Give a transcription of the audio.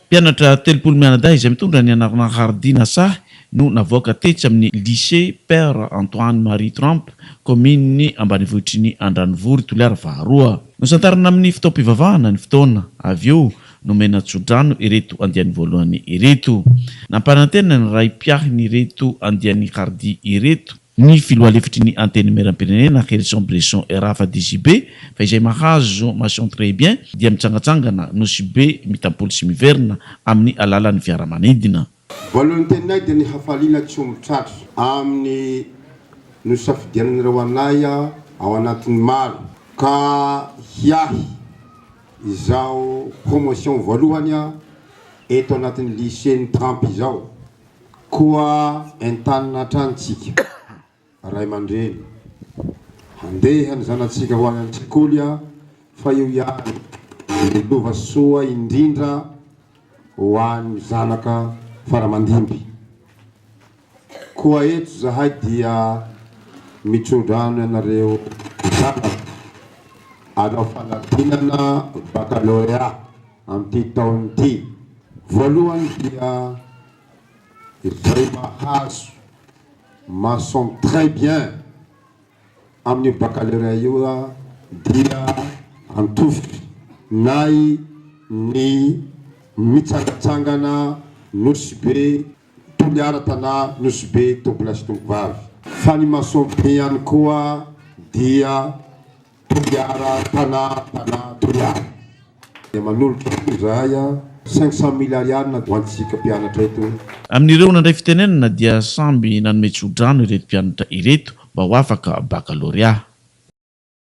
Mpianatra telopolo mianadahy izay mitondra ny anarana Hardina Sahy no navoaka tetsy amin'ny Lycée Père Antoine Marie Trump, kaominin'ny ambanivohitry ny Andranovory, Toliara faharoa. Nosantarina amin'ny fotoam-pivavahana ny fotoana, avy eo nomena tsodrano ireto andiany voalohany ireto. Nampanantena ny Raim-piahin'ireto andiany Hardy ireto, Ny filoha lefitry ny Antenimierampirenena, Herison Bresson Erafa DJB, fa izay mahazo mention très bien dia mitsangatsangana Nosy Be mitampoly sy miverina amin'ny alalan'ny fiaramanidina. Voalohan'ny teninay dia ny hafaliana tsy omby tratra amin'ny nosafidianan'ireo anay ao anatin'ny maro ka hiahy izao promotion voalohany eto anatin'ny lycée-n'i Trump izao. Koa entanina hatrany tsika ray aman-dreny handeha ny zanatsika ho any an-tsekoly fa io ihany no lova soa indrindra ho an'ny zanaka faramandimby. Koa eto zahay dia mitsodrano ianareo zanaka anao fanadinana baccalauréat. amin'ity taona ity. Voalohany dia izay mahazo mention très bien amin'io baccalauréat io dia antofotry nay ny mitsangatsangana Nosy Be Toliara Tanà Nosy Be Tompo lahy sy Tompo vavy. Fa ny mention bien ihany koa dia. Toliara Tana Tana Toliara dia manolotra izahay cinq cent mille ariary ho antsika mpianatra eto. Amin'ireo nandray fitenenana dia samby nanome tso-drano ireto mpianatra ireto mba ho afaka bakalorea.